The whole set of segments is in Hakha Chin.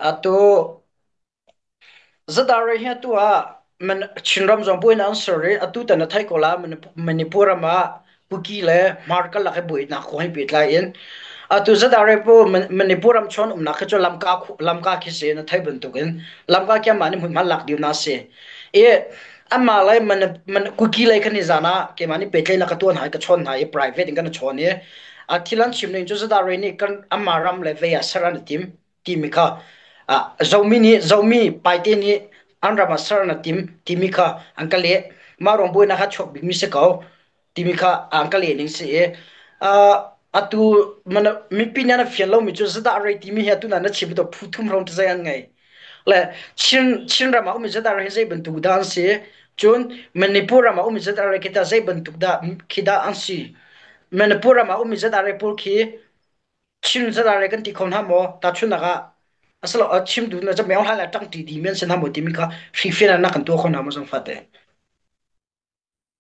Atu Zadare hi atu ah man Chinram zong buin an ser i atu tan a thai ko la Manipur ram ah Kuki le Markal lak i buin na ko hai pehtlai in atu Zadare pu Manipur ram chon umnak khi cu lamka lamka khi si na thai bantuk in lamka kia mah ni hmun hman lak diu na si i Amah lai man man cookie lei kan i zan ah keimah nih petlei la ka tuan hai ka chawn hai i private in kan i chawn i a thilan chim ning cu zata rei nih kan amah ram le vei ah ser an i tim timi kha a zomi nih zomi paite nih an ram ah ser an i tim timi kha an ka leh mah rong buainak kha chuak bikmi si ko timi kha aan ka lehning si i atu mipi nih na fian lomi cu zadah rei timi hi atu na na chim to phu thum rom te zei an ngei le Chin Chin ram ah um zadah rei zei bantuk dah an si cun Manipur ram ah um zadah rei kita zei bantuk dah khi dah an si Manipur ram ah um zadah rei pawl khi Chin zadah rei kan ti kho hna maw ta chunak ah asalo chimtu na jameng hla la tang ti di men sin ha mo ti min kha hri fian na kan tua kho na mo jang fate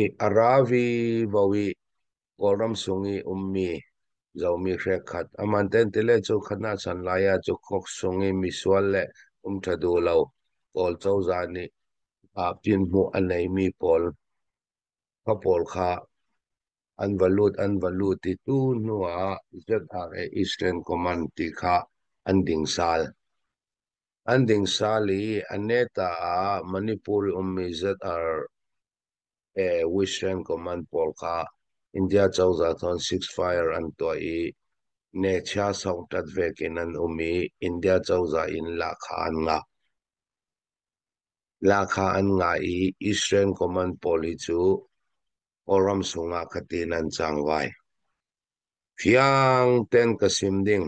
i a ravi vo i Kawlram chung i ummi zomi hrekhat aman tentile cu khatnak chan lai ah cu kok sung i misual le um ṭha duh lo pawl cozah nih ah pinhmuh a neimi pawl kha pawl kha an va lut an va lut i tu hnu ah ZRA Eastern Command ti kha an ding sal. An dingsal i a neta ah Manipuri ummi ZRA Western Command pawl kha India cozah thawn ceasefire an tuah i nechia sawngṭat vek in an um i India cozah in lahkhah an ngah. Lahkhah an ngah i Israel command pawl hi cu Kawlram sungah khatin an cang vai. Fiang ten ka sim ding.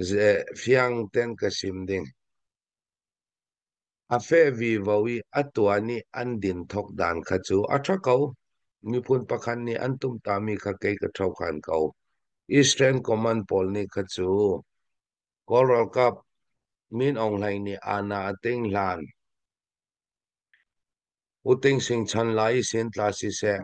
Zeh fiang ten ka sim ding. A feh vivo i a tuan i an din thok dan kha cu a ṭha ko. Miphun pakhat nih an tumtahmi kha kei ka ṭhokhan ko. Eastern Command pawl nih kha cu Kawl ralkap Min Aung Hlaing nih aana a ting hlan u ting sing chan lai i sintla siseh.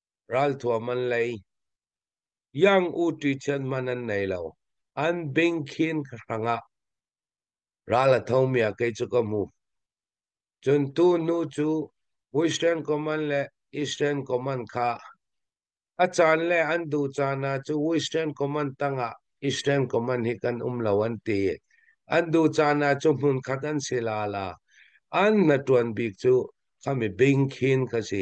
ralthuam an lei. Young uṭi thian man an nei lo. An bing khin hrang ah. Ral a thomi a kei cu ka hmu. Cun tu nu cu Western Command le Eastern Command kha a caan le an duh caan ah cu Western Command tangah Eastern Command hi kan um lo an ti. An duh caan ah cu hmun khat an si la la. An na tuan bik cu kami bing khin ka si.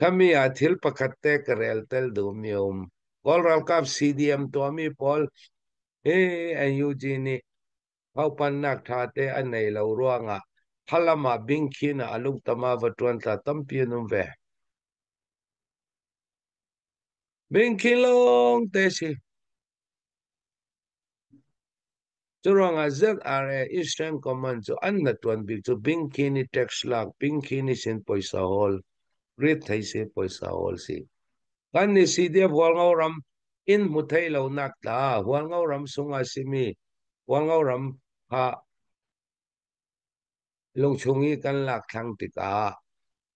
Kami ah thil pakhat te ka rel tel duhmi um. Kawl ralkap CDM tuahmi pawl hi NUG nih haupannak tha te an nei lo ruangah halam ah bingkhin ah alungtama va tuan tla tampi an um ve. Bingkhin lawng te si. Curuangah ZRA Eastern Command cu an na tuan bik cu Bingkini tax lak Bingkini sin poisa hawl rit thei si poisa hawl si. Kan ni CDF Hualngo ram in hmu thei lo nak ta Hualngo ram sungah simi Hualngo ram ha lungchung i kan lak thlang tikah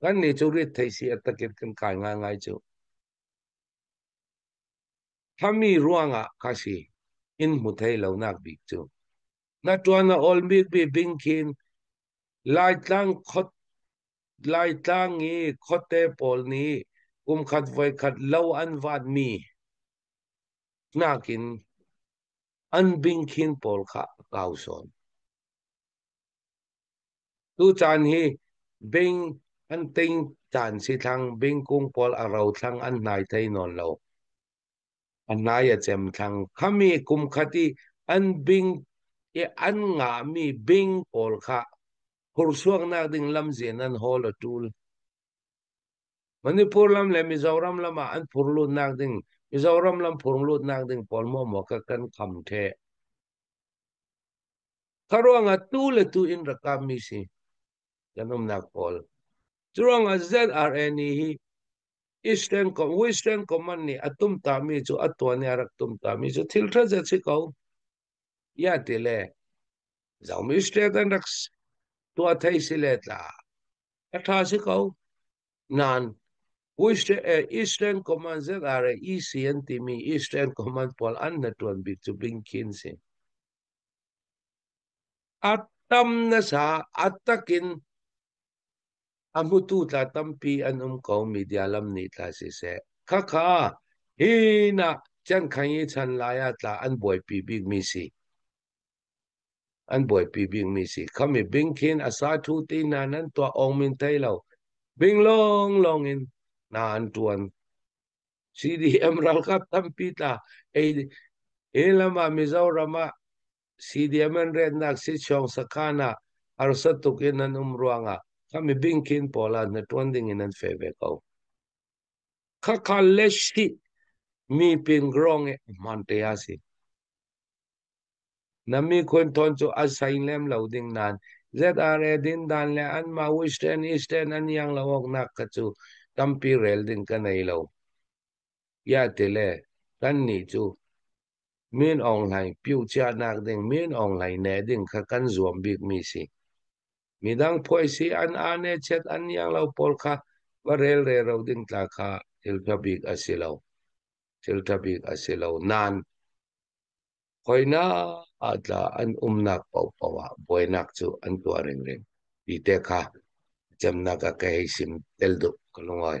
Kannih cu retheih si a takin kan kai ngaingai cu. Thami ruangah ka si in hmu thei lonak bik cu. Na tuan a ol bik bi bing khin Laitlang khot Laitlang i khuate pawl nih kumkhat voikhat lo an vaat mi nakin an bing khin pawl kha kau sawn. Tu caan hi bing an ting caan si thlang bing kung pawl a ro thlang an hnai thei nawn lo. An nai a cem thlang khami kum khat i an bing i an nga mi bing pawl kha hursuak nak ding lam zin an hol a tul. Manipur lam le Mizoram lam ah an phur lut nak ding Mizoram lam phur lut nak ding pawl mo mo ka kan kham the. Kha ruangah tu le tu in rak kammi si kan umnak pawl. Cu ruangah ZRN hi Eastern Western Command nih a tumtami cu a tuan i a rak tumtami cu thil tha zet si ko. Ya ti le zaumi state an rak tua thei si le tla a tha si ko nan Eastern Command ZRA EC an timi Eastern Command pawl an na tuan bik cu bing khin si. A tam nasa, a tak in a hmutu tla tampi an um ko media lam nih tla siseh. Khakha hi na can khang i chan lai ah tla an buaipi bik mi si. An buaipi bik mi si. Khami bing khin asa thu ti na nan tua ong min thei lo. Bing long long in na an tuan CDM ralkap tampi tla ei e lamah Mizoram ah CDM an retnak si chuang sakhan ah arsa tuk in an um ruangah kami bingkin pawl ah na tuan ding in an fe ve ko khakha le shi mi pin grong e hman te asi Na mikhun thawn cu a sein lem lo ding nan. ZRA dindan le an mah Western Eastern an iang lo awk nak kha cu tampi rel ding ka nei lo. Ya te le kan nih cu min ong hlai piu chia nak ding min ong hlai ne ding kha kan zuam bik mi si. Midang phuai si an ane chet an iang lo pawl kha va rel re ro ding tla kha thil tha bik a si lo. Thil tha bik a si lo. Nan Hawinak ah tla an umnak paohpaoh ah buainak cu an tuah ringring ti te kha cemnak ah ka hei sim tel duh ka lungawi.